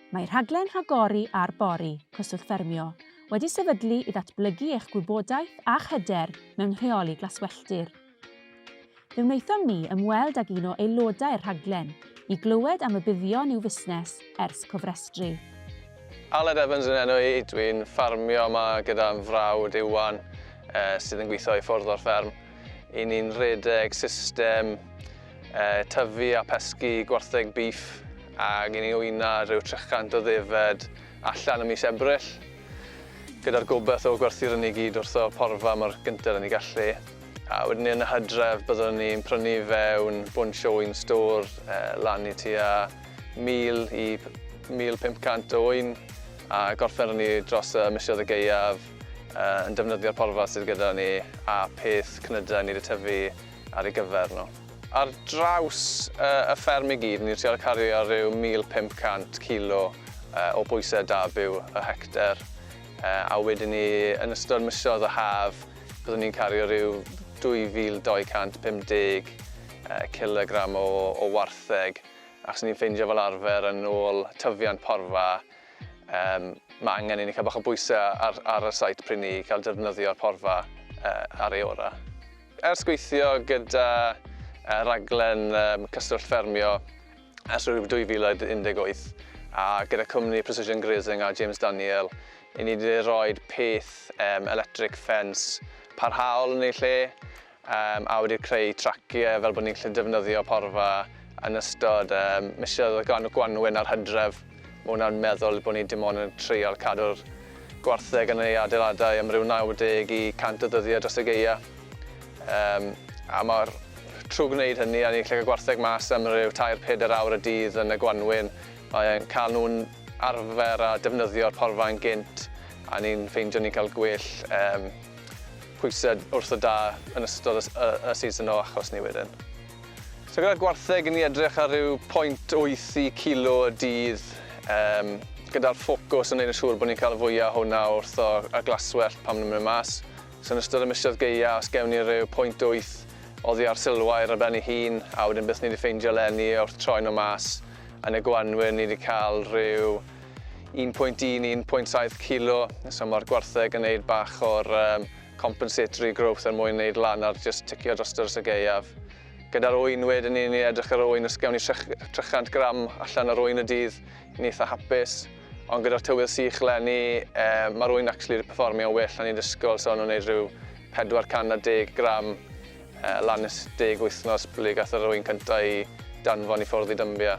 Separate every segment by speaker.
Speaker 1: Mae rhaglen Rhagori ar Bori, Cyswllt Ffermio, wedi sefydlu i ddatblygu eich gwybodaeth a'ch hyder mewn rheoli glaswelltir. Fe wnaethom ni ymweld ag un o aelodau'r rhaglen i glywed am y buddion i'w fusnes ers cofrestru. Aled
Speaker 2: Evans yn enw i, dwi'n ffarmio yma gyda fy mhrawd Iwan sydd yn gweithio i ffwrdd o'r fferm. Y'n ni'n rhedeg system uh, tyfu a pesgu gwartheg bîff ac i ni wyna rhyw 300 o ddefed allan y mis Ebrill gyda'r gobeith o gwerthu'r hynny gyd wrtho porfa mor gynted yn ei gallu. A wedyn ni yn y hydref byddwn ni'n prynu fewn bunch o un stor eh, lan i tua 1000 i 1500 o un a gorffen ni dros y misiodd y geiaf eh, yn defnyddio'r porfa sydd gyda ni a peth cnydau ni wedi tyfu ar ei gyfer nhw. Ar draws y fferm i gyd, ni'n trial cario rhyw 1,500 kilo o bwysedd da byw y hectar, a wedyn ni yn ystod misoedd y haf byddwn ni'n cario rhyw 2,250 kilogram o wartheg, achos ni'n ffeindio fel arfer yn ôl tyfiant porfa, mae angen i ni cael bach o bwysedd ar y site pryd ni'n cael defnyddio'r porfa ar ei orau. Ers gweithio gyda raglen Cyswllt Ffermio ers 2018 a gyda cwmni Precision Grazing a James Daniel, i ni wedi rhoi peth electric fence parhaol yn ei lle a wedi creu traciau fel bod ni'n gallu defnyddio porfa yn ystod misoedd y gwanwyn a'r hydref. Mae hwnna'n meddwl bod ni dim ond yn treial cadw'r gwartheg yn ei adeiladau am ryw 90 i 100 o ddyddiau dros y gaeaf. Yym, a mae'r trwy gwneud hynny a ni'n gallu cael gwartheg mas am ryw tair, pedair awr y dydd yn y gwanwyn, mae'n cael nhw'n arfer a defnyddio'r porfa yn gynt a ni'n ffeindio ni'n cael gwell yym pwysau wrth y dail yn ystod y season o achos ni wedyn. So gyda'r gwartheg yn ni edrych ar ryw 0.8 i kilo y dydd um, gyda'r ffocws yn neud yn siŵr bod ni'n cael y fwyaf hwnna wrth o, y glaswellt pan ni'n mynd mas. So yn ystod y misoedd geia, os gewn ni ryw 0.8 oddi ar silwair ar ben ei hun, a wedyn beth ni wedi ffeindio lenni wrth troi nhw mas, yn y gwanwyr ni wedi cael rhyw 1.1 i 1.7 kilo, so mae'r gwartheg yn neud bach o'r um, compensatory growth er mwyn neud lan ar jyst ticio drosto dros y gaeaf. Gyda'r ŵyn wedyn ni, ni edrych ar ŵyn, os gawn ni 300 gram allan ar ŵyn y dydd, ni'n eitha hapus. Ond gyda'r tywydd sych lenni, eh, mae'r ŵyn actually wedi performio'n well na ni'n disgwyl, so nhw'n neud rhyw 410 gram eh, lan nes 10 wythnos pryd gath yr ŵyn cyntaf i danfon i ffwrdd i dymbia.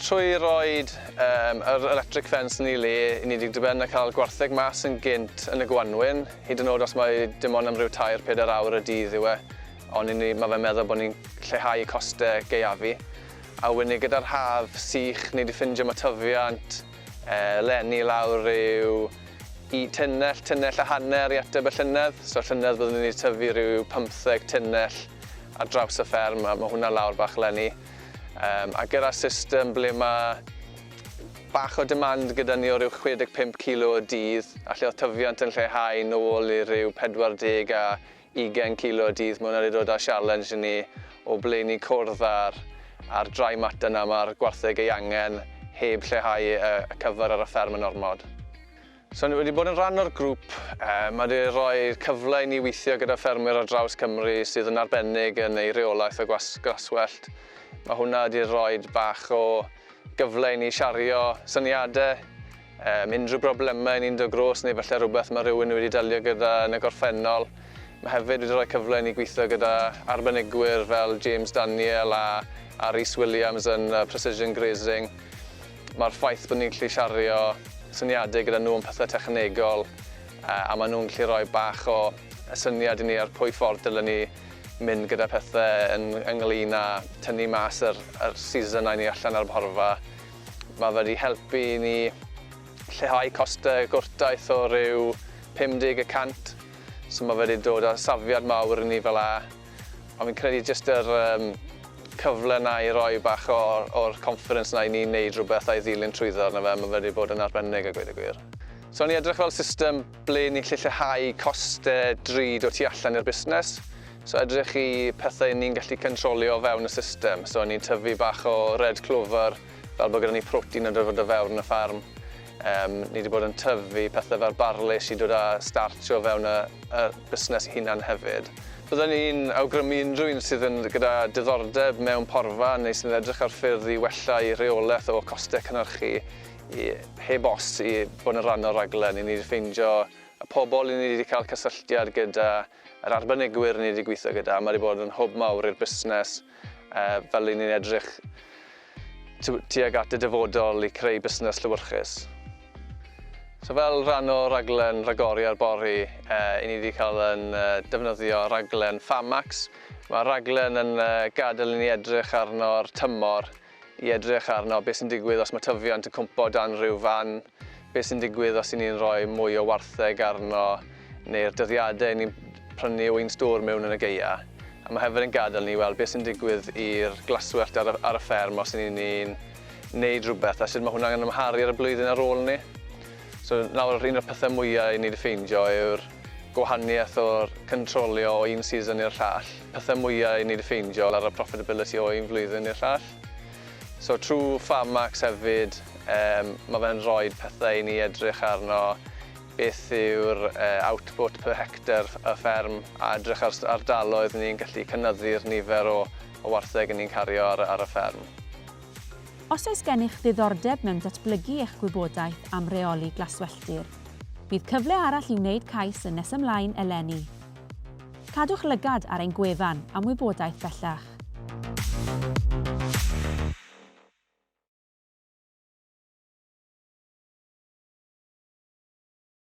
Speaker 2: Trwy roid um, yr electric fence yn ei le, i ni wedi diben a cael gwartheg mas yn gynt yn y gwanwyn, hyd yn oed os mae dim ond am ryw tair, pedair awr y dydd yw e, ond ni, mae fe'n meddwl bod ni'n lleihau costau gaeafu. A wedyn gyda'r haf sych, ni wedi ffindio mae tyfiant eh, lenni lawr rhyw i tunnell, tunnell a hanner i ateb y llynedd. So llynedd byddwn ni wedi tyfu rhyw 15 tunnell ar draws y fferm, a mae hwnna lawr bach lenni. Um, a gyda system ble mae bach o demand gyda ni o ryw 65 kilo o dydd, a lle oedd tyfiant yn lleihau nôl i ryw 40 a 20 kilo o dydd, mae hwnna wedi dod â sialens i ni o ble ni cwrdd ar, ar dry matter na mae'r gwartheg ei angen heb lleihau y, y cyfer ar y fferm yn ormod. So ni wedi bod yn rhan o'r grŵp, yy ma' 'di roi cyfle i ni weithio gyda ffermwyr ar draws Cymru sydd yn arbennig yn eu rheolaeth o gwas- glaswellt. Ma' hwnna 'di roid bach o gyfle i ni shario syniade, yym unrhyw brobleme ni'n do' grôs neu falle rwbeth ma' rywun wedi delio gyda yn y gorffennol. Ma' hefyd wedi roi cyfle i ni gwitho gyda arbenigwyr fel James Daniel a a Rhys Williams yn yy Precision Grazing. Mae'r ffaith bod ni'n gallu shario syniadau gyda nhw am pethau technegol a maen nhw'n gallu rhoi bach o syniad i ni ar pwy ffordd dylen ni mynd gyda pethau yn ynglŷn â tynnu mas yr seasonau ni allan ar y porfa. Mae fe wedi helpu i ni lleihau costau gwrtaith o ryw 50 y cant, so mae fe wedi dod â safiad mawr i ni fel 'na. Ond fi'n credu jyst yr yym cyfle 'na i roi bach o o'r confidence 'na i ni neud rwbeth a'i ddilyn trwyddo arno fe, ma' fe 'di bod yn arbennig a gweud y gwir. So o'n i edrych fel system ble ni'n gallu lleihau coste drud o tu allan i'r busnes. So edrych i pethe 'yn ni'n gallu cyntrolio o fewn y system. So o'n i'n tyfu bach o red clover, Fel bod gyda ni protein yn dod o fewn y ffarm, yym, ni 'di bod yn tyfu pethe fel barley sy'n dod â starch o fewn y y busnes 'i hunan hefyd. Bydden i'n awgrymu unrhyw un sydd yn gyda diddordeb mewn porfa neu sy'n edrych ar ffyrdd i wella'i rheolaeth o coste cynhyrchu i, heb os, i bod yn rhan o'r rhaglen. I ni 'di ffeindio y pobl i ni 'di cael cysylltiad gyda Yr arbenigwyr ni 'di gweithio gyda, mae 'di bod yn hwb mawr i'r busnes fel i ni'n edrych tuag at y dyfodol i creu busnes llewyrchus. So fel rhan o raglen ragori ar bori, i ni 'di cael yn defnyddio raglen Farmax. Mae'r raglen yn gadael i ni edrych arno'r tymor i edrych arno, beth sy'n digwydd os mae tyfiant yn cwmpo o dan rhyw fan, beth sy'n digwydd os 'y ni'n rhoi mwy o wartheg arno, neu'r dyddiadau 'yn ni'n prynu o un stôr mewn yn y gaeau. A mae hefyd yn gadael ni i weld beth sy'n digwydd i'r glaswellt ar y, ar y fferm os 'yn ni'n neud rhywbeth a sut mae hwnna'n amharu ar y blwyddyn ar ôl 'ny. So nawr yr un o'r pethau mwya' i ni 'di ffeindio yw'r gwahaniaeth o'r cyntrolio o un season i'r llall, pethau mwya i ni 'di ffeindio ar y profitability o un flwyddyn i'r llall. So trwy Farmax hefyd yym ma' fe'n rhoid pethau i ni edrych arno, beth yw'r yy output per hectare y fferm a edrych ar sut ardaloedd ni'n gallu cynyddu'r nifer o o wartheg 'yn ni'n cario ar y ar y fferm. Os
Speaker 1: oes gennych ddiddordeb mewn datblygu eich gwybodaeth am reoli glaswelltir, bydd cyfle arall i wneud cais yn nes ymlaen eleni. Cadwch lygad ar ein gwefan am wybodaeth bellach.